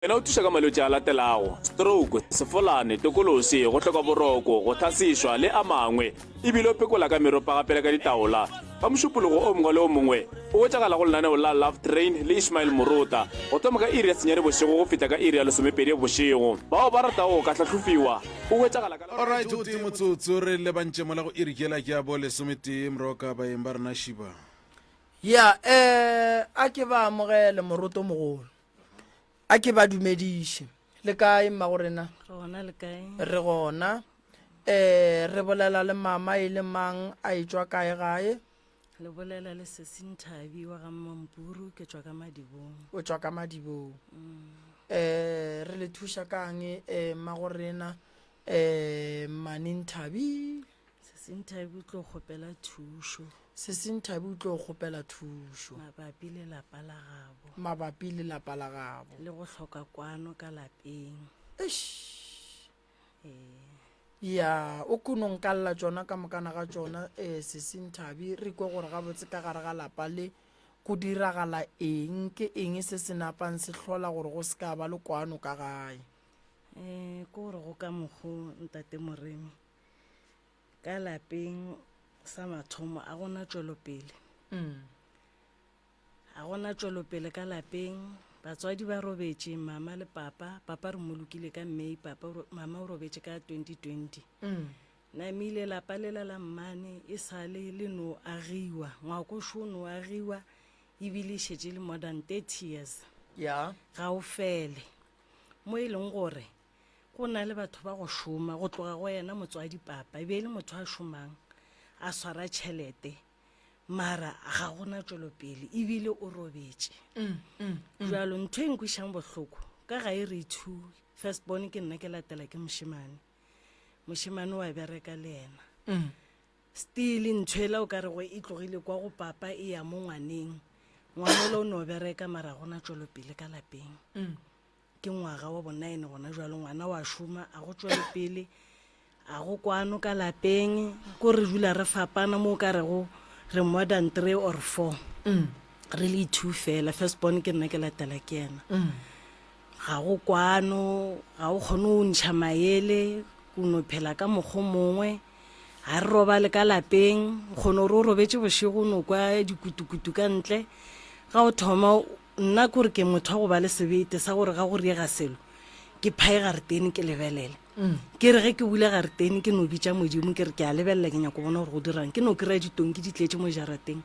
Yena o thuša ka malwetši a latelago, stroke, sefolane, tokolosi, go hloka boroko, go thasišwa le a mangwe, e bile o pekola ka meropa gape le ka ditaola. Ka mošupologo o mongwe le o mongwe, o hwetšagala go lenaneo la Love Train le Ishmael Moroka, go thoma ka iri ya senyane bošego go fihla ka iri ya lesomepedi bošego. Bao ba ratago go ka hlahlofiwa, o hwetšagala ka. Alright, gotee motsotso, re lebantše mola go iri yela ya bo lesometee. Moroka, baeng ba rena, šiba. Yeah, eh, a ke ba amogele, Moroto mogolo. a ke ba dumediše le kae mma go rena re gona um re bolela le mama e le mang a e tswa kae gae le bolela le sesinthabi wa ga mmampuru ke tswa ka madibong o tswa ka madibong um re le thuša kang um mma go rena um manenthabi um Sesinthabi o tlo kgopela thušo. Sesinthabi o tlo kgopela thušo. Mabapi le lapa la gabo. Mabapi le lapa la gabo. Le go hloka kwano ka lapeng. Eish. Ee. ya o kono nkalla tšona ka mokana ga tšona um eh, sesinthabi re kwe gore gabotse ka gare ga lapa le go diragala eng ke eng se se napang se hlola gore go se ka ba le kwano ka gae um ke gore go ka mokgo ntate moremi ka lapeng sa mathomo a gona tšwelopele a gona tšwelopele ka lapeng batswadi ba robetše mama le papa papa re mo lokile ka may papa o ro- mama o robetše ka 2020 namile lapa lela la mmane e sale le no agiwa ngwakošo o no agiwa ebile e šetše le more than 30 years ya ga o fele mo e leng gore Go na le batho ba go šoma, go tloga go yena motswadi papa e be e le motho a šomang a swara tšhelete mara ga gona tšwelopele ebile o robetše mm, mm, mm. jalo ntho e nkwišang bohloko ka ga e re two first born ke nna ke latela ke mošemane mošemane wa bereka le ena still ntho e la o ka re go e tlogile kwa go papa e ya mo ngwaneng ngwanelo o ne o bereka mara gona tšwelopele ka lapeng ke ngwaga wa bonaene gona jalo ngwana wa šoma a go tšwele pele a go kwano ka lapeng ko re dula re fapana mo o ka rego re more than three or four mm. re le two fela first born ke nna ke latela ke ena mm. ga go kwano ga o kgone o ntšha maele o no phela ka mokgo mongwe ga re robale ka lapeng kgone gore o robetse bošego o no kwa dikutukutu ka ntle ga o thoma Nna kore ke motho wa go ba le sebete sa gore ga go riega selo ke phae gareteni ke lebelele ke re ge ke bule gareteni ke no bitša modimo ke re ke a lebelela ke nyako bona gore go dirang ke no kry-a ditong ke di tletse mo jarateng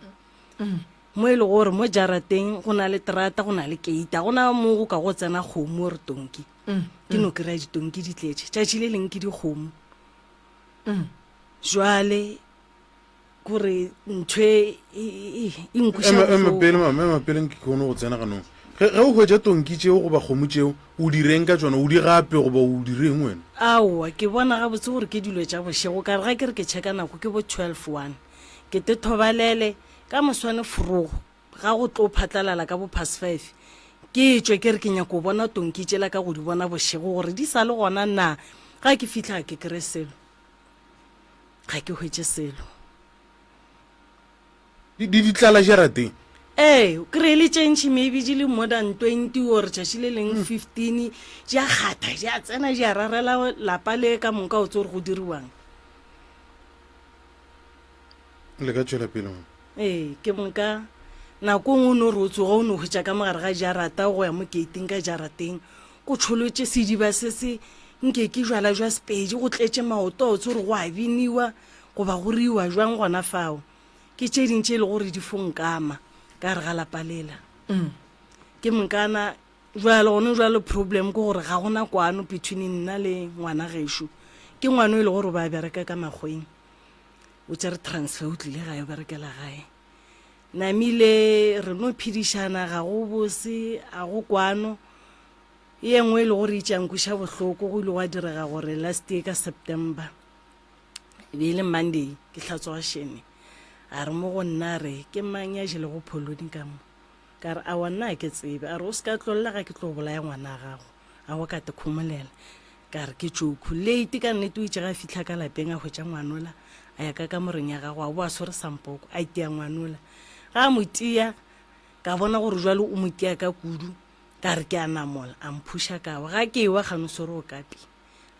mo e le gore mo jarateng go na le terata go na le keita go na mo go ka go tsena kgomo re tonki ke no kry-a ditong ke di tletse tšatši le leng ke dikgomo jwale gore ntho e, e, e, e nkwesaemapele mama emapele nke kgone go tsena ganong ge ge o hwetša tonki tšeo goba kgomo tšeo o di reng ka tsona o di gape goba o di reng wena aowa ke bona gabotse gore ke dilo tša bošego ka re ga ke re ke checka nako ke bo 12 one ke tethobalele ka moswane forogo ga go tlo phatlalala ka bo past five ke tswe ke re ke nyako bona tonki tšela ka go di bona bošego gore di sa le gona na ga ke fitlha ke kry selo Ga ke hwetše selo. Di, di, di tlala jarateng. Ee, o kry-e le tše ntšhi maybe di le more than twenty or tšatši le leng fifteen, di a kgatha, di a tsena, di a rarela lapa le ka moka o tse gore go diriwang. Le ka tšwela pele mo. ee ke moka nako ngwe o ne o re o tsoga o ne o hwetša ka mogare ga jarata go ya mo gating ka jarateng O tšholotše sediba se se nkekijwala jwa Sepedi go tletše maoto a o tsore go a biniwa goba go riwa jwang gona fao. Ke tše ding tše e le gore di fo nkama ka gare ga lapa lela. Mm. Ke mokana jwale gone jwale problem ke gore ga gona kwano between nna le ngwana gešo. Ke ngwana e le gore ba bereka ka makgweng. O tsere transfer o tlile gae o berekela gae. Namile, Re no phedišana ga go bose, a go kwano. E nngwe e le gore e tšankuša bohloko go ile gwa direga gore last year ka September e be e le Monday ke hlatswa shene a re mo go nna re ke mang ya jelego pholoni ka mo ka re a wa nna ke tsebe a re o se ka tlolela ga ke tlo bolaya ngwana gago a go ka te khomolela Ka re, Ke tšokhw late ka nnete. O itše ge a fihla ka lapeng a hwetša ngwanola a ya ka kamoreng ya gagwe, a boa swere sampoko, a tia ngwanola. Ge a mo tia, ka bona gore jwale o mo tia ka kudu. Ka re, Ke a namola. A mphuša ka wa. Ga ke ewa kgane o swere okapi,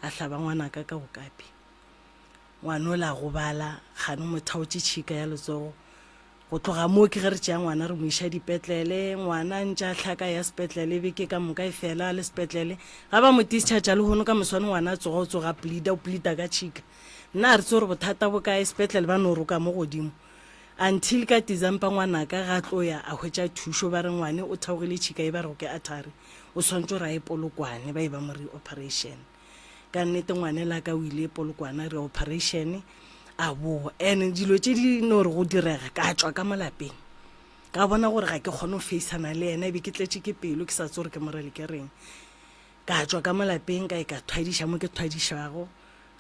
a hlaba ngwanaka ka okapi. Ngwana o le a gobala, kgane o mo thaotše tšhika ya letsogo. Go tloga moo ke ge re tšea ngwana re mo iša dipetlele. Ngwana a ntše a hlaka a ya sepetlele, beke ka moka e fela a le sepetlele. Ga ba mo discharge-a lehono ka moswane ngwana a tsoga, o tsoga a plead-a, o plead-a ka tšhika. Nna a re tse gore bothata bo kae, sepetlele ba no roka mo godimo. Until ka December ngwanaka ga tlo ya a hwetša thušo, ba re ngwane o theogile tšhika e ba rego ke artery, o swanetše gore a ye Polokwane ba e ba mo re operation. ka nnete ngwane la ka o ile polokwana re operation a boa and dilo tse di no re go direga ka tswa ka mo lapeng ka bona gore ga ke kgone go faceana le ena ebe ke tletse ke pelo ke sa tse gore ke morele ke reng ka tswa ka mo lapeng ka e ka thwadiša mo ke thwadišago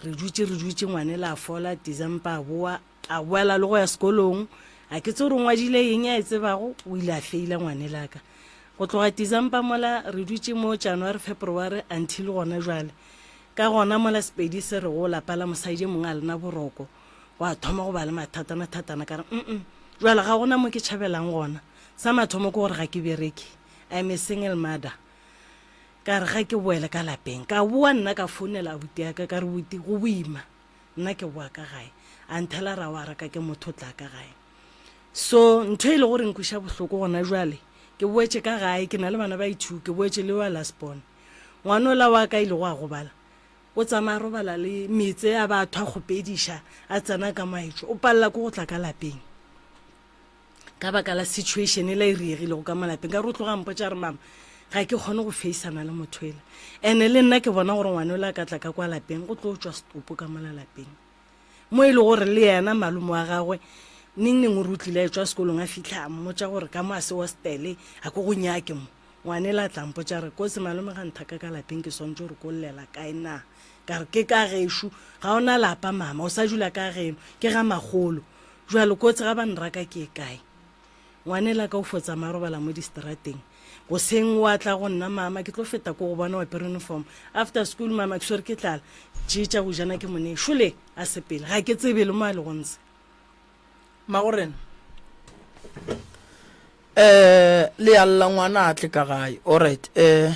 re dutse re dutse ngwane la fola december a boa A boela le go ya sekolong. A ke tse gore o ngwadile eng a e tsebago, o ile a feila ngwanelaka. Go tloga December mola re dutše mo January, February until gona jwale. Ka gona mola Sepedi se re o lapa la mosadi e mongwe a lena boroko. Gwa thoma go ba le mathatana-thatana ka re mm jwale ga gona mo ke tšhabelang gona. Sa mathomo ke gore ga ke bereke, I'm a single mother. Ka re ga ke boele ka lapeng. Ka boa nna ka founela abuti ya ka ka re, Buti go boima. nna ke boa ka gae a nthela ra wa raka ke motho o tla ka gae so ntho e le gore nkwiša bohloko gona jwale ke boetše ka gae ke na le bana ba ithu ke boetše le wa last born ngwana ola wa ka e lego a gobala o tsamaya robala le metse a ba thwa kgopediša a tsena ka maetšo o palela ko go tla ka lapeng ka baka la situation e la e riegilego ka malapeng ka re o tloga mpotsa re mama ga ke kgone go faceana le motho ele ene le nna ke bona gore ngwane o le a ka tla ka kwa lapeng go tlo tswa setopo ka mola lapeng mo e le gore le yena malome wa gagwe neng neng o re o tlile a etswa sekolong a fitlha a mmotsa gore ka mo a se ostele a ko go nyake mo ngwane le a tlampo tsa re kotse malome ga nthaka ka lapeng ke swantse gore ko llela kae na ka re ke ka gešu ga ona lapa mama o sa dula ka geno ke ga magolo Bjalo, kotsi ga ba nraka ke e kae? Ngwanelaka o fo tsamaya a robala mo distrateng. Goseng wa tla go nna, Mama, ke tlo feta ko go bona o apere uniform. After school, Mama, ke swere ke tlala. Tše tša go jana ke mo nee. Šole a sepela. Ga ke tsebe le mo a lego ntshe. Magorena, Um, le a lla ngwana a tle ka gae. Alright. Um,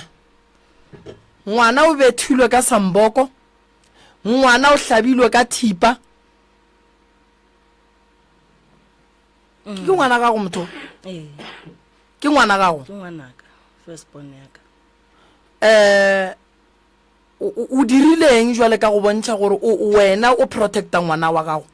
ngwana o bethilwe ka samboko. Ngwana o hlabilwe ka thipa. ke mm. ngwana gago motho ee. ke ngwana gago um o dirileng jale ka go bontšha gore wena o protecta ngwana wa gago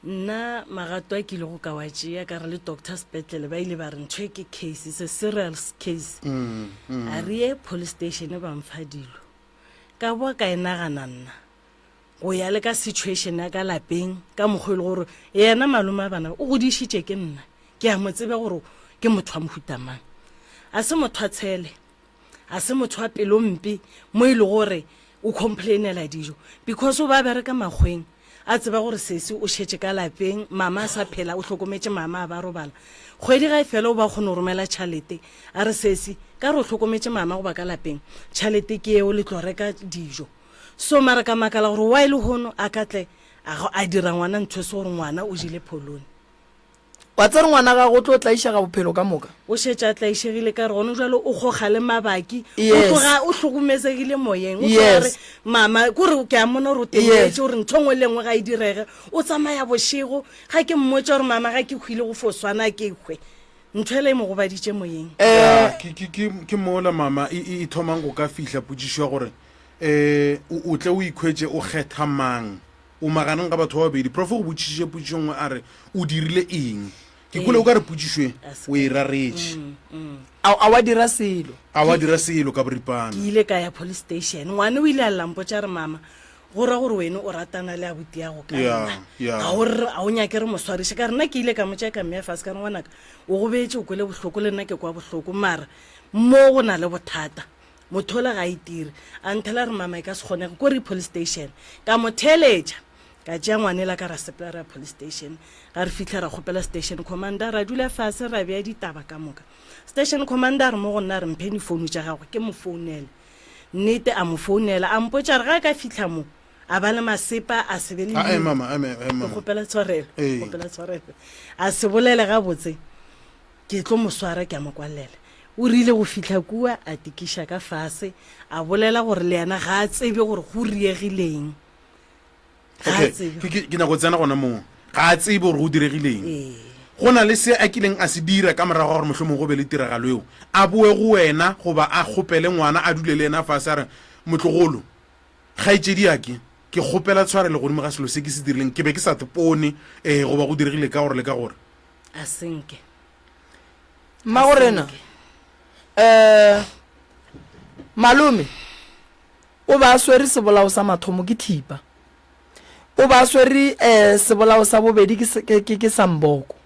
nna magato a kile go ka wa tšea ka re le doctor sepetlele ba ile ba re ntho e ke case se serial case mm, mm. a re ye police station ba mfa dilo ka boa ka e nagana nna go ya le ka situation ya ka lapeng ka mokgwa e le gore yena malome a bana o godišitše ke nna ke a mo tsebe gore ke motho wa mohutamang a se motho a tshele a se motho wa pelo mpe mo e le gore o complainela dijo because o ba bereka makgweng a tseba gore sesi o šetše ka lapeng mama a sa phela o hlokometše mama a ba robala kgwedi ga e fela o ba kgone go romela tšhalete a re sesi ka re o hlokometše mama goba ka lapeng tšhalete ke eo le tlo reka dijo So mara ka makala gore why le hono a ka tle a go a dira ngwana ntho e se gore ngwana o jile pholone. Wa tsere ngwana gago o tlo tlaišega bophelo ka moka. O šetše a tlaišegile ka re gone jwale o goga le mabaki. O tloga o hlokomezegile moyeng. O tloga re mama kore ke a mona gore o tenyetše gore ntho ngwe le ngwe ga e direge. O tsamaya bošego ga ke mmotša gore mama ga ke hwile go fo swana ke hwe. Ntho ele e mo gobaditše moyeng. Ke mola mama e thomang go ka fihla potšišo ya gore. um o tle o ikhwetše o kgetha mang o maganeng ga batho ba babedi profo go botšišiše potsišo nngwe a re o dirile eng ke kole o ka re potsišoe o e raretše mm, mm. a wa dira selo a wa dira selo ka boripana ke ile ka ya police station ngwane o ile a lampo tša re mama go ra gore wene o ratana le abuti ya go ka nna ga o nyake re moswariše ka rena ke ile ka mo tšeka mme ya fase ka re ngwanaka o go beetse o kwele bohloko le nna ke kwa bohloko mara mo go na le bothata Mothola ga a itire. A nthela a re, Mama, e ka se kgonege. Ko re ye police station. Ka mo theeletša. Ka tšea ngwanela ka ra sepela ra ya police station. Ga re fihla ra kgopela station commander, ra dula fase ra bea ditaba ka moka. Station commander a re mo go nna, a re, Mphe difounu tša gagwe ke mo founele. Nnete, a mo founela. A mpotša a re ga a ka fihla mo, a ba le masepa, a se be le Ae, leina. mama, ae, mama, ae, Ke mama. kgopela tshwarelo. Ee. Kgopela tshwarelo. A se bolele gabotse. Ke tlo mo swara ke a mo kwalela. O rile go fihla kua a tikiša ka fase, a bolela gore le yena ga a tsebe gore go riegileng. Ga a Okay, tsebe. ke- ke ke nyako tsena gona moo. Ga a tsebe gore go diregileng. Ee. Go na le se a kileng a se dira ka morago ga gore mohlomong go be le tiragalo eo. A boe go wena goba a kgopele ngwana a dule le yena fase a re, Motlogolo, kgaetšediake, ke kgopela tshwarelo godimo ga selo se ke se dirileng. Ke be ke sa tpone um goba go diregile ka gore le ka gore. a senke mmagorena um malome o ba swere sebolao sa mathomo ke thipa o ba swere um sebolao sa bobedi ke samboko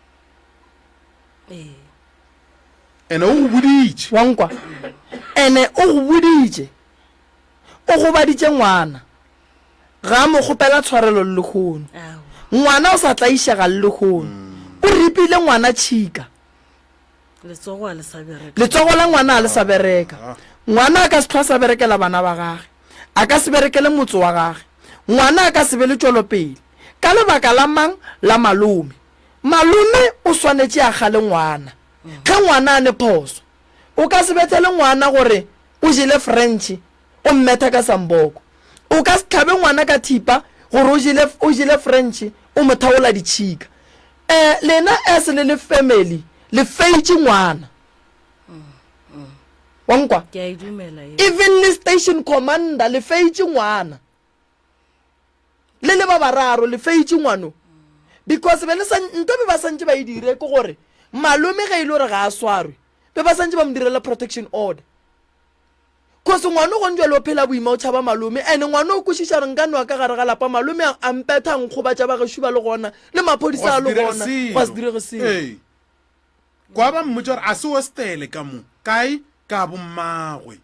ene o go boditše wa nkwa ene o go boditše o gobaditše ngwana ga a mo kgopela tshwarelo lehono. Ngwana o sa tlaišega lehono. O ripile ngwana tšhika. Letsogo la ngwana a le sa bereka. Ngwana a ka se tlhwa sa berekela bana ba gage. A ka se berekele motse wa gage. Ngwana a ka se be le tšwelopele. Ka lebaka la mang? La malome. Malome o swanetše a kgale ngwana. Ge ngwana a ne phoso, o ka se bethele ngwana gore o jele French o mmetha ka samboko. O ka se tlhabe ngwana ka thipa gore o jele, o jele French o mo thaola ditšhika. Eh, lena as le le family le feitše ngwana. Wa nkwa? Ke a e dumela yeo. Even le station commander le feitše ngwana. Le le ba bararo le feitše ngwano. Because be le sa, nto be ba santše ba e dire ke gore malome ge e le gore ga a swarwe be ba santše ba mo direla protection order. Cause ngwano gone jalo o phela boima o tšhaba malome and ngwano o kwešiša re nka noa ka gare ga lapa malome a a mpetha a nkgobatša ba gešo ba le gona le maphodisa a le gona gwa se direge selo. Ee. Kwa ba mmotša gore a se hostele ka mo. Kae? Ka bommagwe.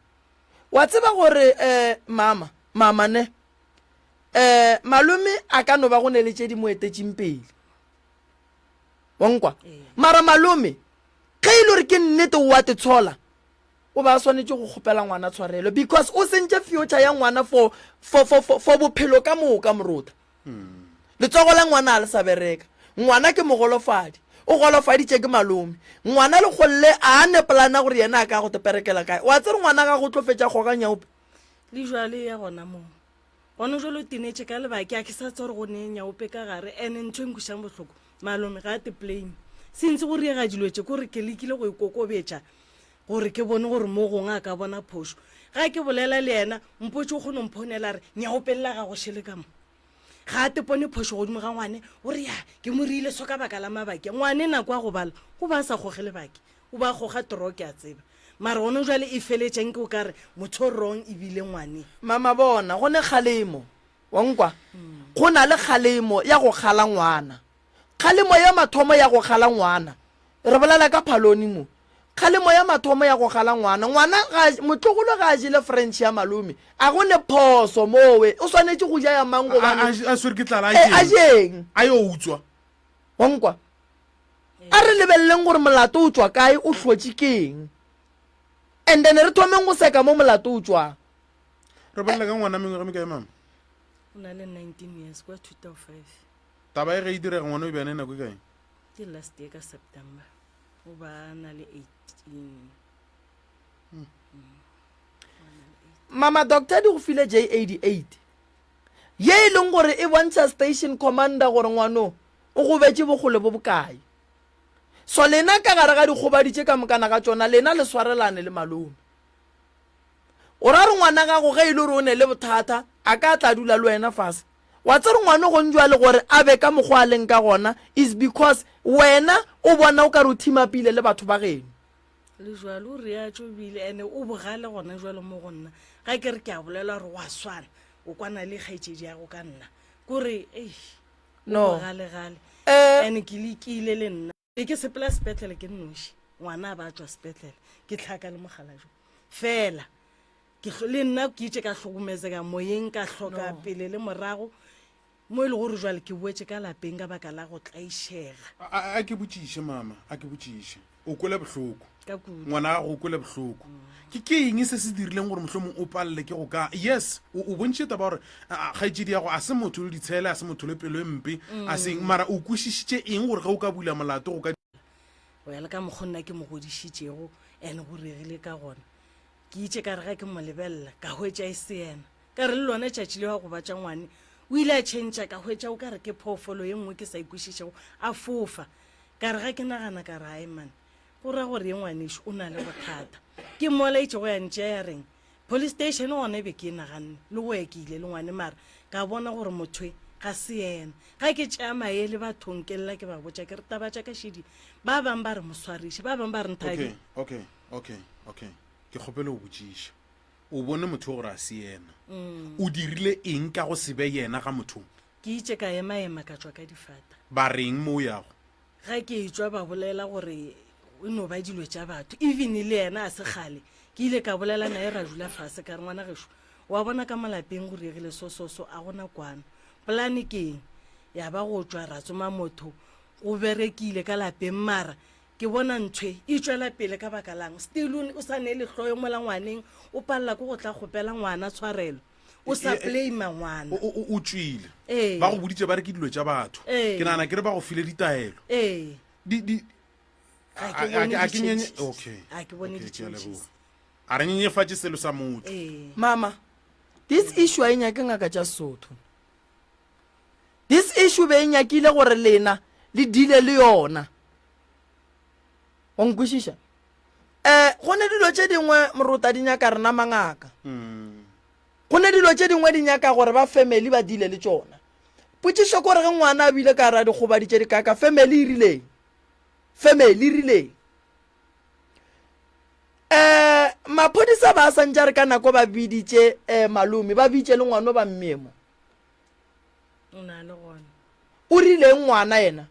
Wa tseba gore um mama, mama ne, um malome a ka no ba go ne le tše di mo etetšeng pele. Wa nkwa? Mara malome ge e le gore ke nnete o a te tshola, O be a swanetše go kgopela ngwana tshwarelo because o sentše future ya ngwana for, for, for, for, for bophelo ka moka moruta. Letsogo la ngwana a le sa bereka. Ngwana ke mogolofadi. O golofaditše ke malome. Ngwana le golle a a ne plana gore yena a ka go teperekela kae. O a tsere ngwana gago o tlo fetša kgoga nyaope. Le jwale ya gona moo. Gona jalo tinetše ka lebake a ke sa tswa gore go ne nyaope ka gare ene ntho e nkušang bohloko malome ga a te plain se ntse go riega dilo tše kore ke lekile go e kokobetša gore ke bone gore mo gongwe a ka bona phošo ga ke bolela le yena mpotse o kgone mphonela re nyaopelela ga go šele ka mo ga a tepone phošo godimo ga ngwane o re ya ke mo riile so ka baka la mabake ngwane nako ya go bala go ba a sa goge lebake O ba goga toro ke a tseba. Mara one jwale e feletša nke o ka re motho o wrong e bile ngwane. Mama bona go ne kgalemo, wa nkwa? Go na le kgalemo ya go kgala ngwana. Kgalemo ya mathomo ya go kgala ngwana, re bolela ka Phaloni mo, kgalemo ya mathomo ya go kgala ngwana, ngwana ga a, motlogolo ga a jele French ya malome, a go ne phoso mowe, o swanetše go ja ya mang A, a, gobane, a, a swere ke tlala a ee, a jeng? jeng. A yo utswa. Wa nkwa? A re lebeleleng gore molato o tšwa kae, o hlotše ke eng, and then re thomeng go seka mo molato o tšwang. Re bolele ka ngwana mengwaga mikae mama? O na le 19 years kwa 2005. Taba e ge e direga ngwana o e beane nako e kae? Ke last year ka September. O ba na le 18. Hmm. Hmm. Mama doctor di go file J88 ye e leng gore e bontšha station commander gore ngwano O gobetše bokgole bo bokae? So lena ka gare ga dikgobadi tše ka mokana ga tšona, lena le swarelane le malome. O ra gore ngwana gago ge e le gore o ne le bothata, a ka tla dula le wena fase. Wa tsere ngwano gong jwale gore a be ka mokgwa a leng ka gona is because wena o bona o ka re o thimapile le batho ba geno. Le jwale o reatšo bile ene o bogale gona jwale mo go nna. Ga ke re ke a bolela gore wa swana, o kwana le kgaetšedi ya go ka nna. Kore, eish. no gale gale eh. and ke lekile le nna e ke sepela sepetlele ke nnoši ngwana a ba tswa sepetlele ke tlhaka le mogala jo fela le nna ke itse ka tlhokometseka moyeng ka tlhoka pele le morago mo e le gore jwale ke boetse ka lapeng ka baka la go tlaišega a ke botšiše mama a ke botšiše o kwele bohloko ka kudu ngwana gago o kwele bohloko ke ke eng se se dirileng gore mohlomong o palele ke go ka yes o o bontšhitše taba gore ah, kgaetšedi yago a se motho le ditshele a se motho le pelo e mpe a seng mara o kwešišitše eng gore ge o ka bula molato go ka go ya le ka mokgo nna ke mo godišitšego and go regile ka gona ke itše ka re ga ke mo lebelela ka hwetša e se yena ka re le lone tšatši le wa go batša ngwane o ile a tšhentšha ka hwetša o ka re ke phoofolo ye nngwe ke sa ikwešišego a fofa Ka re ga ke nagana ka re, Aiman, go ra gore ye ngwanešu o na le bothata. Ke mmolaetše go ya ntšea ya reng, Police station gona e be ke e naganne le go ya ke ile le ngwane mara ka bona gore mothwe ga se yena. Ga ke tšea maele bathong ke lla ke ba botša ke re, Taba tša ka šedi, ba bang ba re mo swariše, ba bang ba re nthabi. Okay, okay, okay, okay. Ke kgopele go botšiša. O bone motho yo gore ga se yena. O dirile eng ka go se be yena ga mothong? Ke itše ka emaema ka tšwa ka difata. Ba reng mo o yago? Ga ke etšwa ba bolela gore e no ba dilo tša batho. Even le yena a se kgale ke ile ka bolela naye ra dula fase ka re, Ngwana gešo, wa bona ka mo lapeng go diregile so so so, a go na kwano. Polane ke eng? Ya ba go tšwa ra tsoma motho. Go berekile ka lapeng mara ke bona nthwe e tšwela pele ka baka la'ng? Still o sa nele hloyo mola ngwaneng, o palela ke go tla kgopela ngwana tshwarelo. o sa play mangwana o tswile ba go boditse ba re ke dilo tša batho ke nana ke re ba go file ditaelo a re nyenyefatše selo sa motho mama this issue a e nyake ngaka tša sotho this issue be e nyakile gore lena le dile le yona o nkwešiša um go ne dilo tše dingwe morota di nyaka rena mangaka mm. go ne dilo tše dingwe di nyaka gore ba family ba dile le tšona potšišo kore ge ngwana a bile ka ra dikgobadi tše dikaka family e rileng family e rileng um maphodisa ba santša re ka nako ba biditše um malome ba bitše le ngwano ba mmemo O na le gona. O rileng ngwana yena?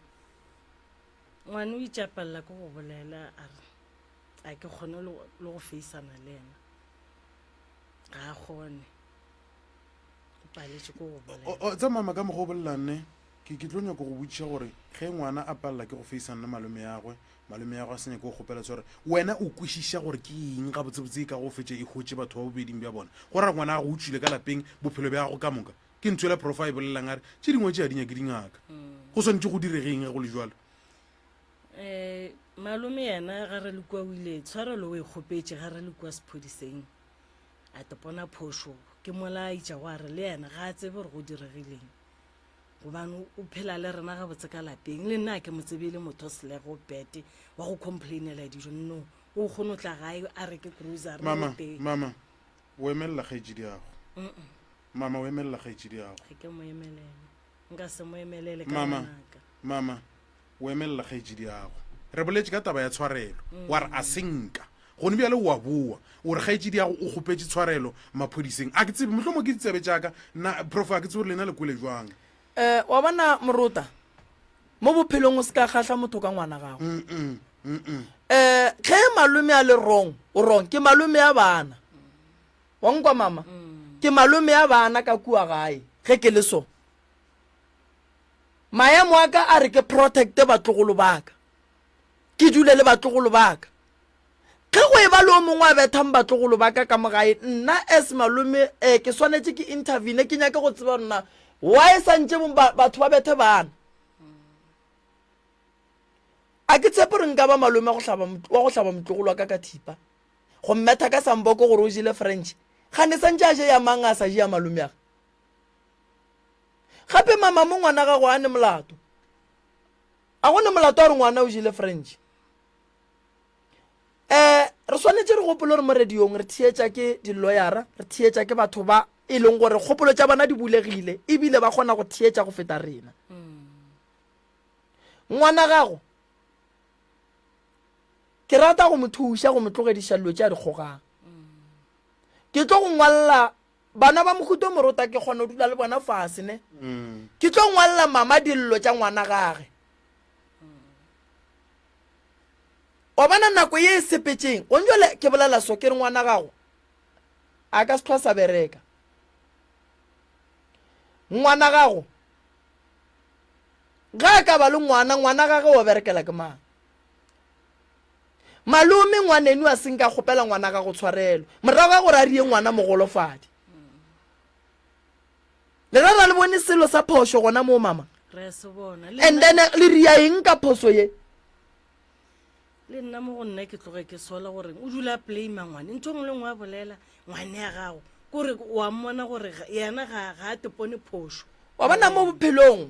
Ngwana o itšapalela ke go bolela a re a ke kgone le go feisana le yena. Ga a kgone. O paletše ke go bolela. Tsa mama ka mokgwa o bolelang ne ke ke tlo nyako go botšiša gore ge ngwana a palela ke go feisana le malome yagwe Malome ya go a se nyake o kgopela tsore wena o kwešiša gore ke eng gabotsebotse e ka go fetša e hotše batho ba bobeding bja bona go ra ngwana gago o tšwile ka lapeng bophelo bja gago ka moka ke ntho ela profa e bolelang a re tše dingwe tše a di nyake dingaka mm. go swantše go diregeng ge go le jalo um malome yena ga re le kua o ile tshwarelo o e kgopetše ga re le kua sephodiseng a tepona phošo ke mola a itša go a re le yena ga a tsebe gore go diregileng gobane o phela le rena gabotse ka lapeng le nna ke mo tsebe e le motho selego bete wa go complainela dijo no o kgone o tla gae a reke grocery mama teng mama o emelela kgaetšedi yago mama o emelela kgaetšedi yago ga ke mo emelele nka se mo emelele ka mama ngwanaka mama o emelela kgaetsidiago re boletše ka taba ya tshwarelo wa re a senka gone bjale o a boa o re kgaetsidiago o kgopetse tshwarelo maphodiseng a ke tsebe mohlomong ke ditsebe tšaka na prof a ke tsebe gore lena le kwele jwang um wa bona morota mo bophelong o se ka kgahla motho ka ngwana gago um ge malome a le wrong o wrong ke malome ya bana wa nkwa mama ke malome ya bana ka kua gae ge ke le so Maemo a ka a re ke protect-e batlogolo ba ka, ke dule le batlogolo ba ka. Ge go eba le o mongwe a bethang batlogolo ba ka ka mo gae, nna as malome um ke swanetše ke intervene, ke nyake go tseba gore na why santše batho ba bethe bana. A ke tshepe gore nka ba malome wa go hlaba motlogolo wa ka ka thipa, go mmetha ka samboko gore o jele French. Kgane santše a je ya mang a sa je ya malomeage? gape mama mo ngwana gago a ne molato a go ne molato a re ngwana o jile french um re swanetše re gopolo re mo radiong re theetša ke di-lawyera re theetša ke batho ba e leng gore kgopolo tša bona di bulegile ebile ba kgona go theetša go feta rena ngwana gago ke rata go mo thuša go mo tlogediša dilo tša dikgogang ke tlo go ngwalela bana ba mohuto morota ke kgona go dula le bona fase ne mm. ke tlo ngwalela mama dillo tša ngwana gage wa bona nako ye e sepetseng o njole ke bolela so ke re ngwana gago a ka se tlhwa sa bereka ngwana gago ga a ka ba le ngwana ngwana gage wa berekela ke mang Malome, ngwanenu a seng ka kgopela ngwana gago tshwarelo morago ga gore a rie ngwana mogolofadi. Le ra ra le bone selo sa phošo gona moo mama? Re se bona. And then le ria eng ka phoso ye? le nna mo go nna ke tloge ke sola gore o dula a blame ngwane ntho ngwe le ngwe a bolela ngwane ya gago kore wa mmona gore yena ga a tepone phoso wa bona mo bophelong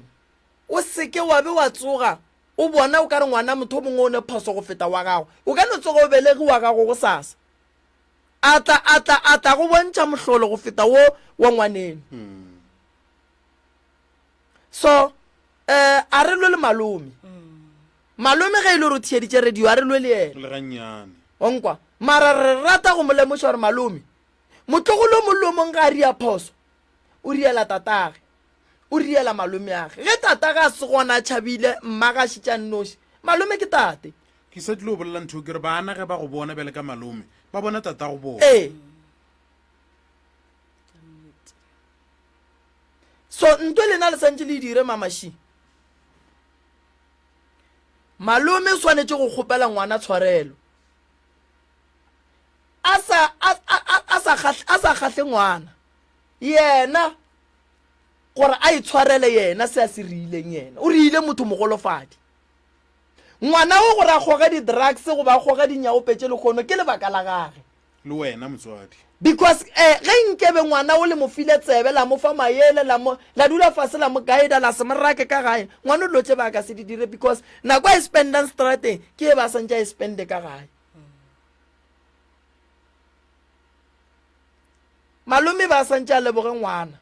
o seke wa be wa tsoga O bona o ka re ngwana motho o mongwe o ne phoso go feta wa gago. O ka no tsoga o belegi wa gago gosasa. A tla, a tla, a tla go bontšha mohlolo go feta wo wa ngwaneno. So, eh, a re lwe le malome. Malome ge e le gore o thiyeditše radio, a re lwe le yena. Le gannyane. Onkwa. Mara re rata go mo lemoša gore malome, motlogolo o mollo o mong ga a ria phoso, o riela tatagwe. o riela malomeage ge tata ga se gona tšhabile mmagašitša nnoši malome ke tate ke sa tlile go bolela ntho ke re bana ge ba go bona bjale ka malome ba bona tata go bona ee so nto lena le santse le dire mamashi malome o swanetše go kgopela ngwana tshwarelo a sa kgahle ngwana yena gore a itshwarele yena se a se riileng yena o riile motho mogolofadi ngwana o gore a kgoge di-drugs goba a kgoge dinyaope tše lekgono ke lebaka la gage le wena motswadi because um ge nkebe ngwana o le mo file tsebe la mo fa mayele la dula fase la mo guida la se morake ka gae ngwana o dilo tše ba ka se di dire because nako a e spendang strateng ke e ba santse a e spende ka gae malome ba santse a leboge ngwana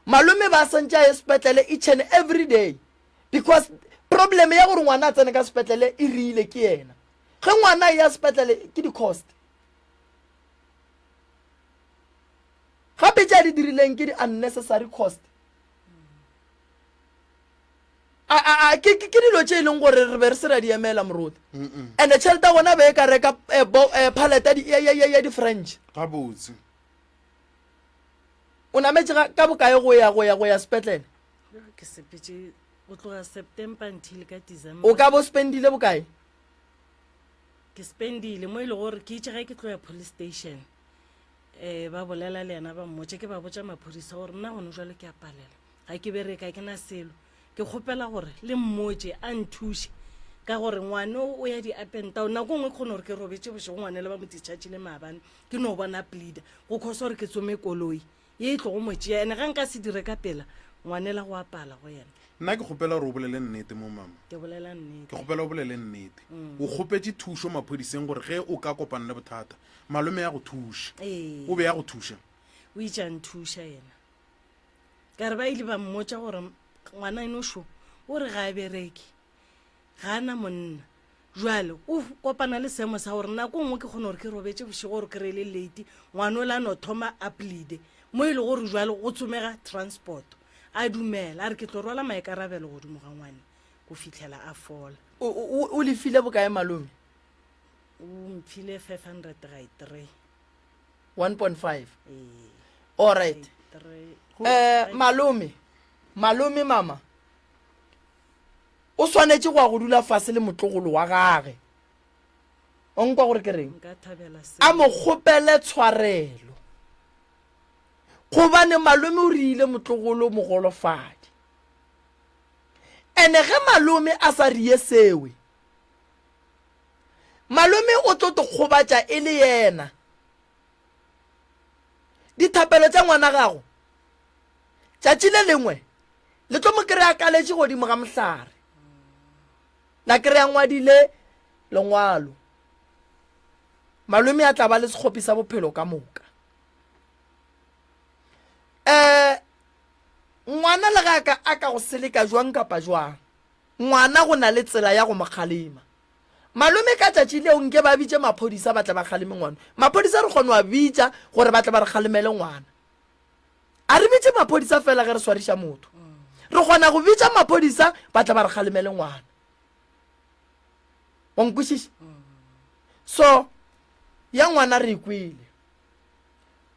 malome ba santse a ye sepetlele each and every day because problem ya gore ngwana a tsene ka sepetlele e riile ke yena ge ngwana e ya sepetlele ke di-cost gape tša di dirileng ke di-unnecessary cost a a a ke ke- ke dilo tše e leng gore re be re se ra di emela moruti and-e tšhelete ya gona be e ka reka eh, bo- eh, paleta ya di- ya- ya- ya- ya di-french gabotse o nametse ga- ka bokae go ya go ya go ya sepetlele ke sepetse go tloga september until ka december o ka bo spendile bokae ke spendile mo e le gore ke itse ge ke tlo ya police station um ba bolela le yena ba mmotše ke ba botša maphodisa gore nna gone jalo ke a palela ga ke bereka ke na selo ke kgopela gore le mmotše a nthuše ka gore ngwane o o ya di-apentao nako nngwe ke kgone gore ke robetse bošego ngwane le ba mo dischargile maabane ke no bona pleader go kgosa gore ke tsome koloi ye e tlogo mo tšea ene ga nka se dire ka pela ngwane la go apala go yena nna ke kgopela gore o bolele nnete mo mama ke bolela ke nnete kgopela o bolele nnete o kgopetse thušo maphodiseng gore ge o ka kopana le bothata malome ya go thuša Ee. o be ya go thuša o itše a nthuša yena ka re ba ile ba mmotsa gore ngwana enošo o re ga a bereke ga a na monna jale o f- kopana le seemo sa gore nako nngwe ke kgone gore ke robetse bošego gore ke reele late ngwana o le a no thoma a pleade mo e le gore jale go tsomega transport a dumela a re ke tlo rwala maikarabelo godimo ga ngwane go fitlhela a fola o, o, o lefile bokae malome O mphile 500 ga e three. 1.5 Ee. all right Three. um malome malome mama o swanetše go ya go dula fase le motlogolo wa gage o nkwa gore ke reng Nka thabela se. a mo kgopele tshwarelo gobane malome o riile motlogolo mogolofadi ene ge malome a sa rie sewe Malome o tlo to kgobatša e le yena. Dithapelo tša ngwana gago tšatši le lengwe le tlo mo kry-a kaletše godimo ga mohlare. La kry-a ngwadile lengwalo. Malome a tla ba le sekgopi sa bophelo ka moka. Um ngwana le ga ka a ka go seleka jwang kapa jwang, Ngwana go na le tsela ya go mo kgalema. Malome ka tšatši leo nke ba bitše maphodisa ba tle ba kgaleme ngwana. Maphodisa re kgono a bitša gore ba tle ba re kgalemele ngwana. A re bitše maphodisa fela ge re swariša motho. Re kgona go bitša maphodisa ba tle ba re kgalemele ngwana. Wa nkwešiša? So ya ngwana re e kwele.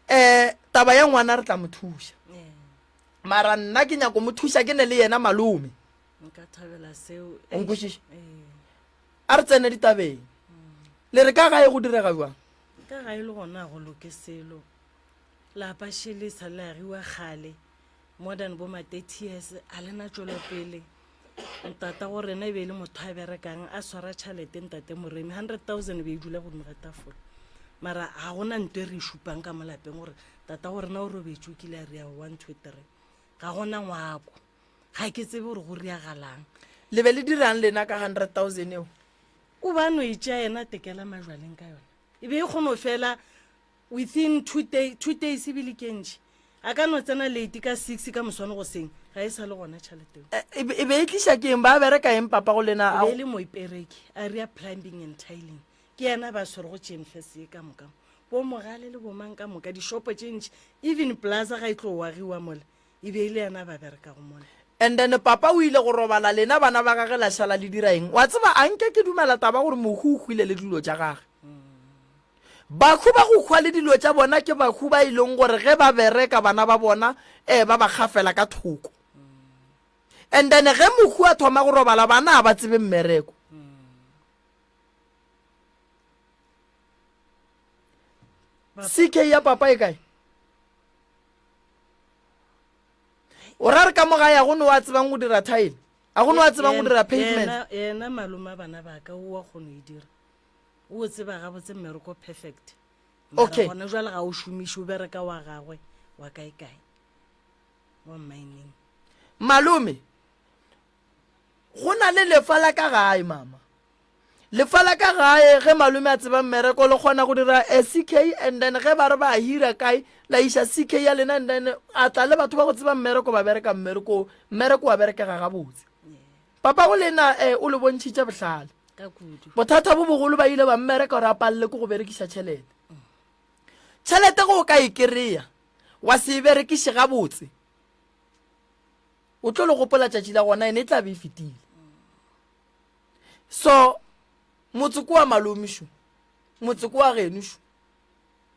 Eh taba ya ngwana re tla mo thuša. mara nna ke nyako mo thuša ke ne le yena malome nka thabela seo o nkwešiša eh. a re tsene ditabeng le re ka gae go direga jwang ka ga e le gona go loke selo lapa šele sa le agiwa kgale more than bo ma 30 years a lena tšwelopele Ntata go rena e be e le motho a berekang a swara tšhalete ntate Moremi 100,000 e be e dula godimo ga tafola mara ga gona nto e re e šupang ka mo lapeng gore tata go rena o robetše o kile a rea one two three ga gona ngwako ga ke tsebe gore go riagalang le be le dirang lena ka 100,000 eo o ba no e tšea yena tekela majwaleng ka yona e be e kgone go fela Within two day, two days ebile ke ntši. A ka no tsena late ka six ka moswane go seng. Ga e sa le gona tšhalete eo. E be- e be e tliša ke eng? Ba bereka eng papa go lena? E A be e go- le moipereki, Aria Plumbing and Tiling. Ke yena ba swerego Chemfest ye ka moka mo. Bo Mogale le bo mang ka moka, dishopo tše ntši. Even Plaza ga e tlo wagiwa mola, E be e le yena a ba berekago mona. And then papa o ile go robala, lena bana ba gage la šala le dira eng? Wa tseba, a nke ke dumela taba ya gore Mohu o hwile le dilo tša gage. Bahu ba go hwa le dilo tša bona ke bahu ba e leng gore ge ba bereka bana ba bona eh ba ba kgafela ka thoko. And then ge Mohu a thoma go robala bana a ba tsebe mmereko. CK ya papa e kae? o ra re ka mo gae a go ne wa tsebang go dira tile a go ne wa tsebang go dira pavement Yena- yena malome a bana ba ka o wa kgona e dira o o tseba gabotse mmereko perfect Mara Okay. gona jwale ga o šomiše o bereka wa gagwe wa kae kae wa mmineng malome go na le lefa la ka gae mama lefa la ka gae ge malome a tseba mmereko le kgona go dira a ck and then ge ba re ba hira kae la iša ck ya lena and then a tla le batho ba go tseba mmereko ba bereka mmereko mmereko wa berekega gabotse papa go lena um eh, o le bontšhitše bohlale bothata bo bogolo ba ile ba mmereka gore a palele ko go berekiša tšhelete tšhelete go o ka e kry-a wa se e berekiše gabotse o tlo le gopola tšatši la gona ene e tla be e fetile so motse ko wa malomišo motse ko wa genošo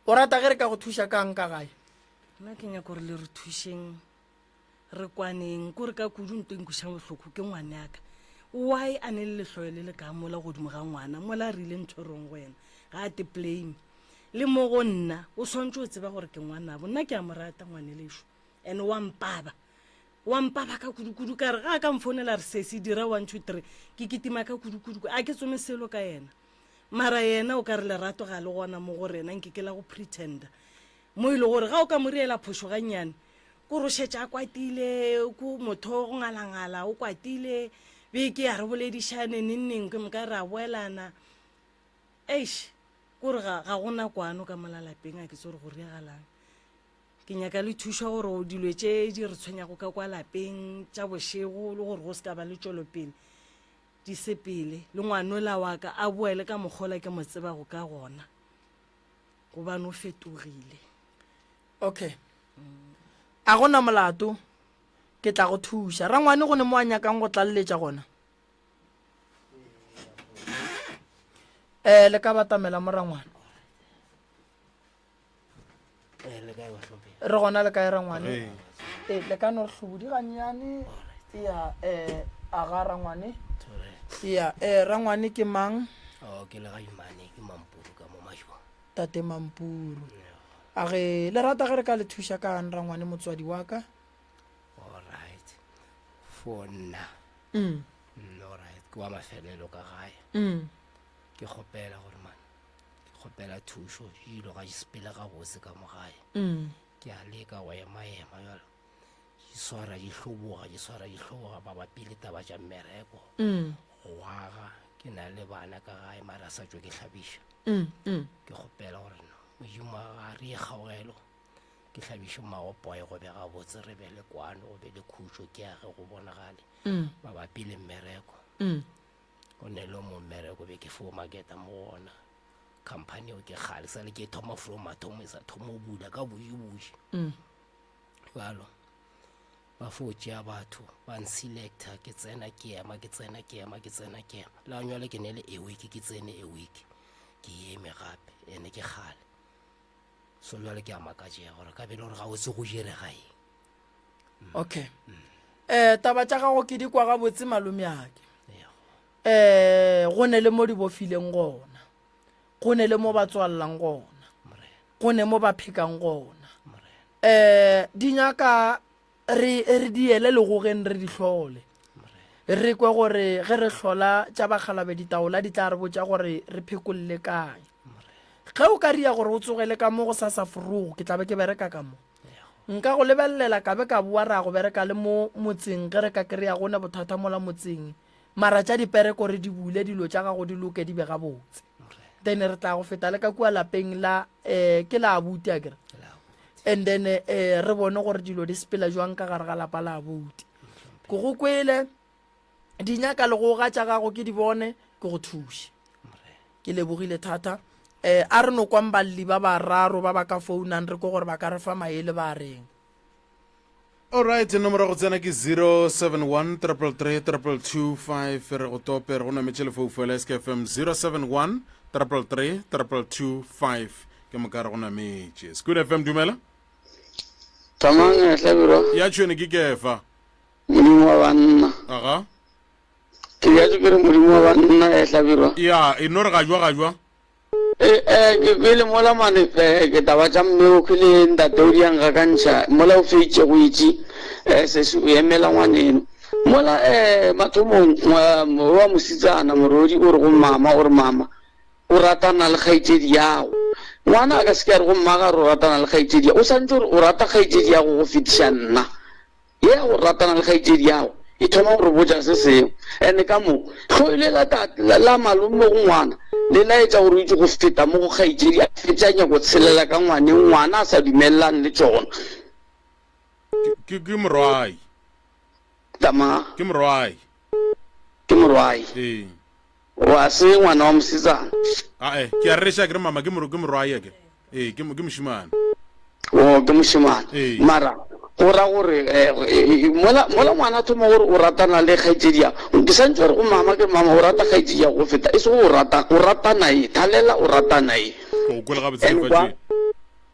o rata ge re ka go thuša kang ka gae nna ke nyako gore le re thušeng re kwaneng ko re ka kudu nto nkušang bohloko ke ngwane yaka why a ne le lehloyo le le ka mola godimo ga ngwana mola a rile ntho e rong go yena ga a te plame le mo go nna o swantse o tseba gore ke ngwanabo nna ke a mo rata ngwane lešo and wa mpaba wa mpaba ka kudukudu ka re ga a ka mfounela re sese dira one two three ke kitima ka kudukudu a ke tsome selo ka yena mara yena o ka re lerato ga le gona mo go rena nke ke la go pretenda mo e le gore ga o ka mo reela phošo gannyane ko rošetša a kwatile ko motho go ngalangala o kwatile beke ya re boledišane nengneng ke moka re a boelana eish kore ga gona kwano ka molalapeng a ke tse gore go reagalang ke nyaka le thuša gore o dilo tše di re tshwenyago ka kwa lapeng tša bošego le gore go se ka ba le tšwelopele di sepele le ngwanola wa ka a boele ka mokgola ke mo tseba go ka gona gobane o fetogile okay a gona molato ke tla go thuša rangwane go ne mo a nyakang go tlaleletša gona um le ka batamela morangwane Eh, le kae bahlomphegi re gona le kae rangwane Re. Eh, le ka no re hlobodi gannyane ya um aga rangwane Sorry. ya um rangwane ke mang Oh, ke le ga imane ke mampuru ka mo mashwa tate mampuru a ge le rata ge re ka le thuša kang rangwane motswadi wa ka allright for nna mm, Mm, allright ke wa mafelelo ka gae mm. ke kgopela gore man kgopela thušo ilo ga sepele gabotse ka mo gae mm. ke a leka go emaema jalo di swara di hloboga di swara di hloboga ba bapile taba tša mmereko mm. go aga ke na le bana ka gae mara sa tšwe ke hlabiša mm, ke kgopela gore no modimo a re e kgaogelo ke hlabiše magopoe go be gabotse re be le kwano go be le khutšo ke age go bonagale mabapi le mmereko go ne le mo mmereko be ke fo maketa mo go ona company eo ke kgale sale ke thoma from mathomo e sa thoma o bula ka bošeboši mm. jalo ba fo tšea batho ba nselecta ke tsena ke ema ke tsena ke ema ke tsena ke ema la nyale ke ne le awake ke tsene awake ke eme gape ene ke kgale so jale ke a makatšega gore ka bele gore ga o se go jerega eng okay eh taba tša gago ke di kwa gabotse malomeake eh go ne le mo di bofileng gona go ne le mo ba tswalelang gona go ne mo ba phekang gona eh di nyaka re re di ele le go gen re di hlole re kwe gore ge re hlola tša bagalabe ditaola di tla re botša gore re phekolole kae ge o ka ria gore o tsogele ka mo go sa sa forogo ke tlabe ke bereka ka mo Nka go lebelelela ka be ka boa ra go bereka le mo motseng ge re ka kry-a go ne bothata mola motseng mara tša dipere kore di bule dilo tša gago di loke di be gabotse then re tla go feta le ka kua lapeng la um ke la abuti a kere and then um re bone gore dilo di sepela jwang ka gare ga lapa la abuti ko go kwele di nyaka legoga tša gago ke di bone ke go thuše ke lebogile thata um a re no kwang balli ba bararo ba ba ka founang re ko gore ba ka re fa maele ba reng Alright, nomoro go tsena ke 071 333 225 re go tope re go nametše lefoufo la SKFM 071 333 225 ke moka re go nametše. School FM dumela. Tamang hlabirwa. Ya tšhwene ke kefa. Modimo wa banna. Aga. Ke bjatše ke re Modimo wa banna e hlabirwa. Ya, e no re gajwa gajwa. E, e, ke kwele mola mane e, ke taba tša mmeo ke le ntateo di yang gakantšha mola o feitše go itši e, sesi o emela ngwaneno. Mola e, mathomong ngwa, wa mositsana morodi o re go mama gore mama o ratana le kgaitšedi yago. Ngwana a ka se ke a re go mma ga re o ratana le kgaitšedi ya, o santše gore o rata kgaitšedi yago go fetiša nna. Ye ya go ratana le kgaetšediago e thoma go re botša se sengwe. And ka mo, hloyo le la ta, la malome go ngwana, le laetša gore o itše go feta mo go kgaetšedi a fetše a nyako tshelela ka ngwaneng ngwana a sa dumelelane le tšona. Ke, ke morwayi. Tama. Ke morwayi. Ke morwayi. Ee. O a se ngwana wa mosetsana? Ae, ke a reša ke re mama ke mo, ke morwaye ke. Ee, ke, ke mošemane. Oo, ke mošemane. Ee. Mara, go ra gore, eh, mola, mola ngwana a thoma gore o ratana le kgaetšediago, ke sa ntše gore go mama, ke re mama o rata kgaetšediago go feta, e sego o rata, o rata naye, thalela o rata naye. Ke go kwele gabotse Lefatšeng.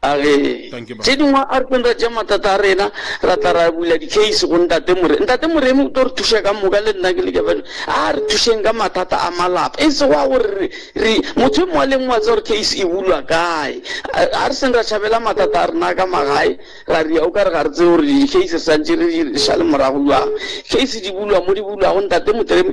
A re, Tše dingwe a re tlong ra tšea matata a rena, ra tla ra bula di-case go Ntate Moremi. Ntate Moremi o tlo re thuša ka moka, le nna ke le Jafadi. A re thušeng ka mathata a malapa, e sego a gore re, re, motho e mongwe le e mongwe a tseba gore case e bulwa kae. A re seng ra tšhabela matata a rena a ka magae, ra ria o ka re ga re tsebe gore di-case re santše re di šale morago bjang. Case di bulwa mo di bulwago, Ntate Motremi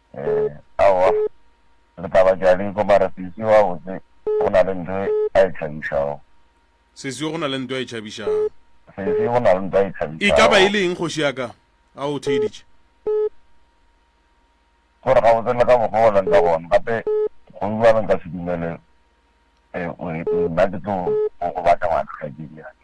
Ee, aowa, le tla ba jaliko, mara seswi wa botse go na le nto a e tšhabišago. Seswi go na le nto a e tšhabišago. Seswi go na le nto a e tšhabišago. E ka ba e le eng, kgoši ya ka? A o theeditše. Gore gabotse le ka mokgwa o leng ka gona, gape go bjalo nka se dumele, ee, nna ke tlo go batla ngwana kgaetšedi ya ka.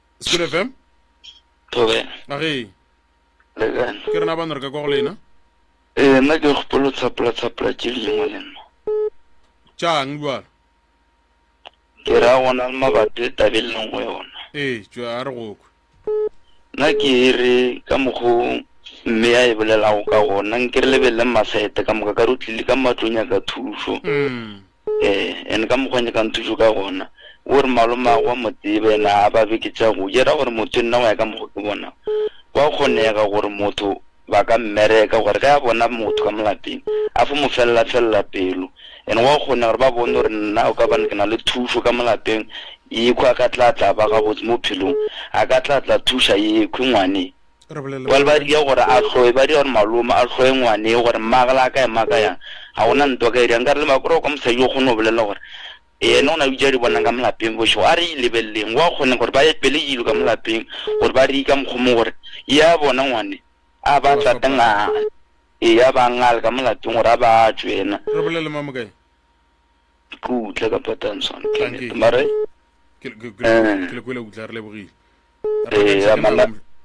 Spirit FM. Thobela. Na ge. Le kae? Ke rena bana re ka kwa go lena. Eh nna ke gopolo tsapula tsapula tše dingwe le nna. Tšang bjalo. Ke ra gona le mabapi tabeng le nngwe yona. Eh tšwa a re go kwe. Nna ke re ka mokgo mme ya e bolelago ka gona nke re lebelele masete ka moka ka re o tlile ka matlong ya ka thušo. Mm. Ee, and ka mokgwa nyakang thušo ka gona, wo re malomagwe wa mo tseba, yena ga a ba beke tša go ja. E ra gore motho, nna go ya ka mokgwa ke bonago, gwa kgonega gore motho ba ka mmereka gore ge a bona motho ka mo lapeng a fo mo felela-felela pelo. And gwa kgonega gore ba bone gore nna o ka bane ke na le thušo ka mo lapeng, yekhwi a ka tla tla ba gabotse mo phelong, a ka tla tla thuša yekhwi ngwane. Jwale ba dira gore a hloe, ba dira gore malome a hloe ngwaneo gore mmaagwe le a ka ema ka yang. Ga go na ntwa ka e dirang. Nka re le makore wa kwa mosadi yo o kgone go bolelela gore ene o na le dilo tse a di bonang ka mo lapeng bošego. A re e lebeleleng, go a kgonega gore ba epele dilo ka mo lapeng gore ba di ka mokgwa o mongwe gore ye a bona ngwane a ba tlata ngale, ee, a ba ngale ka mo lapeng gore a ba a tšwe ena. Re bolele Mmamokae. Ke utlwa ka patantsho. Tlang ke e. Mare, Ke le- ke le- ke le- ke le kwele, utlwa, re lebogile.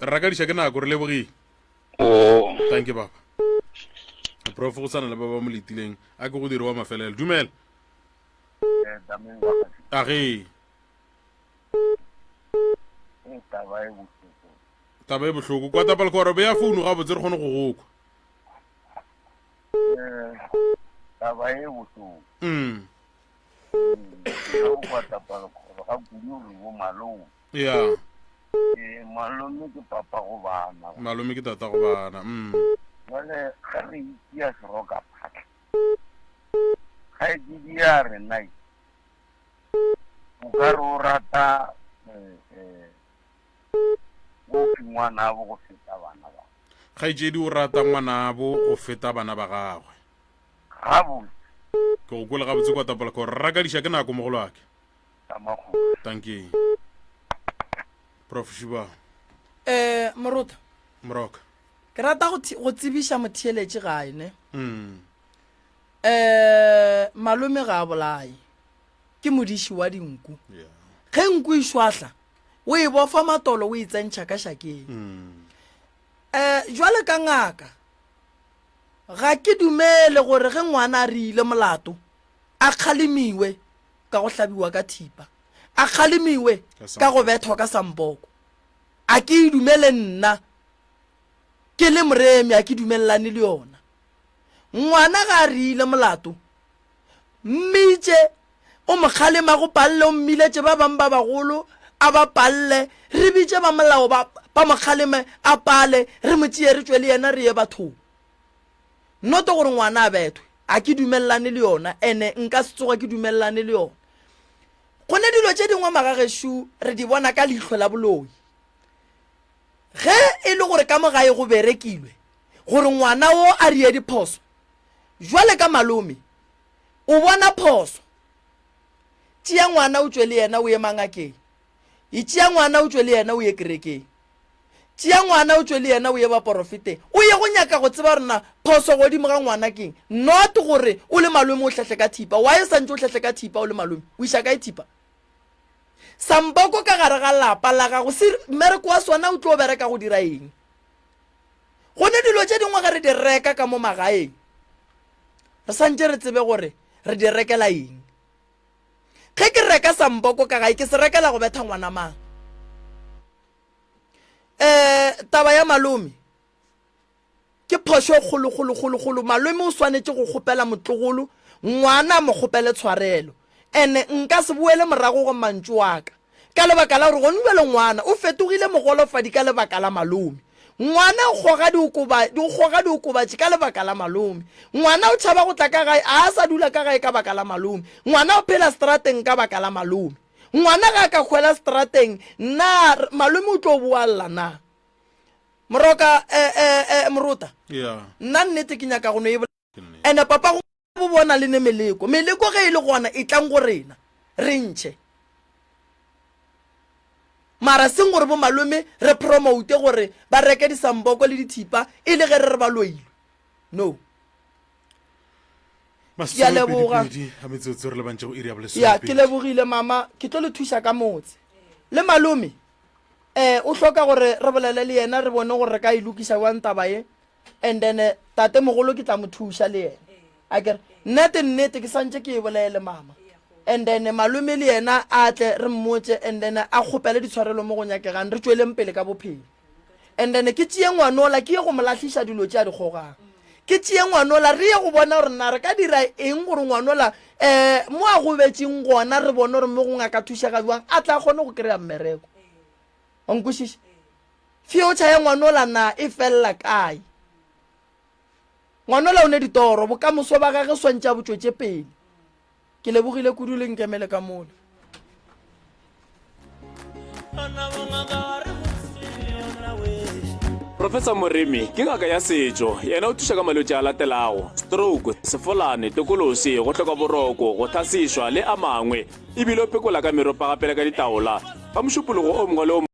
rakadiša ke nako re lebogile oh. thank you baba prof go tshwana le ba ba mo letileng a ke go dire wa mafelelo dumela eh, age taba e bohloko kwa tapalekoro beya founu ga botse re kgone go gokwa eh, taba e bohloko mm. mm. ya Eh, malome ke papa go bana. malome ke tata go bana mm. Jwale ge re itia seroka phatla. Ga e ke dia re nai. O ka re o rata eh eh o fingwana bo go feta bana ba. kgaetšedi o rata ngwanabo go feta bana ba gagwe Ga botse. ke go kwele gabotse kwa tapolaka gore rakadiša ke nako mogolo ake ya makgoši. Dankie. Prof Shuba. Eh, Moruta. Moroka. Ke rata go thi- go tsebiša motheeletše gae ne. Mm. Eh, malome ga a bolaye. Ke modiši wa dinku. Yeah. Ge nku e šwahla, o e bofa matolo o e tsentšha ka šakeng. Mm. Eh, jwale ka ngaka. Ga ke dumele gore ge ngwana a rile molato a kgalemiwe ka go hlabiwa ka thipa a kgalemiwe ka go bethwa ka samboko a ke e dumele nna ke le moremi a ke dumelelane le yona ngwana ga a riile molato mmitše o mokgalema go palle o mmiletše ba bang ba bagolo a ba palle re bitše ba molao ba mokgaleme a pale re mo tšee re tšwe le yena re ye bathong Not gore ngwana a bethwe. A ke dumelelane le yona ene nka se tsoga ke dumelelane le yona. Gone dilo tše dingwe magageshu re di bona ka leihlo la boloi. Ge e le gore ka mo gae go berekilwe gore ngwana wo a rie diphoso, jwale ka malome o bona phoso. Tšea ngwana o tšwe le yena o ye mangakeng. e tšea ngwana o tšwe le yena o ye kerekeng tšea ngwana o tšwe le yena o ye baporofeteng o ye go nyaka go tseba rena phoso godimo ga ngwana keng not gore o le malome o tlhahle ka thipa wa e santse o tlhahle ka thipa o le malome o iša ka e thipa samboko ka gare ga lapa la gago se mmereko wa sona o tlo bereka go dira eng go ne dilo tše dingwe ge re di reka ka mo magaeng re santse re tsebe gore re di rekela eng ge ke reka samboko ka gae ke se rekela go betha ngwana mang um taba ya malome ke phošo e kgolokgolokgolokgolo malome o swanetše go kgopela motlogolo ngwana a mo kgopele tshwarelo and-e nka se boele morago go mantšu aka Ka lebaka la gore gone bjale ngwana o fetogile mogolofadi ka lebaka la malome. Ngwana o kgoga diokobatši, o kgoga diokobatši ka lebaka la malome. Ngwana o tšhaba go tla ka gae, a a sa dula ka gae ka baka la malome. Ngwana o phela setrateng ka baka la malome. Ngwana ge a ka hwela setrateng, na malome o tlo boa lla na? Moroka, eh, eh, eh, Morota, Yeah. nna nnete ke nyaka go no e bolela. And papa go bo bona le ne meleko meleko ge e le gona e tlang go rena re ntšhe mara seng gore bo malome re promote gore ba reke disamboko le dithipa e le ge re re ba loilwe no ke a leboga ya ke lebogile mama ke tlo le thuša ka motse le malome um o hloka gore re bolele le yena re bone gore re ka e lokiša jwang taba ye and then eh, tate mogolo ke tla mo thuša le yena a kere nnete nnete ke santse ke e bolele mama and then malome le yena a tle re mmotse and then a kgopele ditshwarelo mo go nyakegang re tsweleng pele ka bophelo and then ke tšee ngwanola ke ye go mo latlhiša dilo tše a di kgogang ke tšee ngwanola re ye go bona gore na re ka dira eng gore ngwanola um mo a gobetseng gona re bone gore mo gongwe a ka thusega jwang a tla kgone go kry-a mmereko onkwešiše Future ya ngwanola na e felela kae? Ngwanola o ne ditoro, bokamoso ba gage swantše a bo tšwetše pele. Ke lebogile kudu le nkemele ka mola. Professor Moremi ke ngaka ya setšo, yena o thuša ka malwetši a latelago, stroke, sefolane, tokolosi, go hloka boroko, go tlhasišwa le a mangwe, ebile o pekola ka meropa gape le ka ditaola. Ka mošupologo o mongwe le o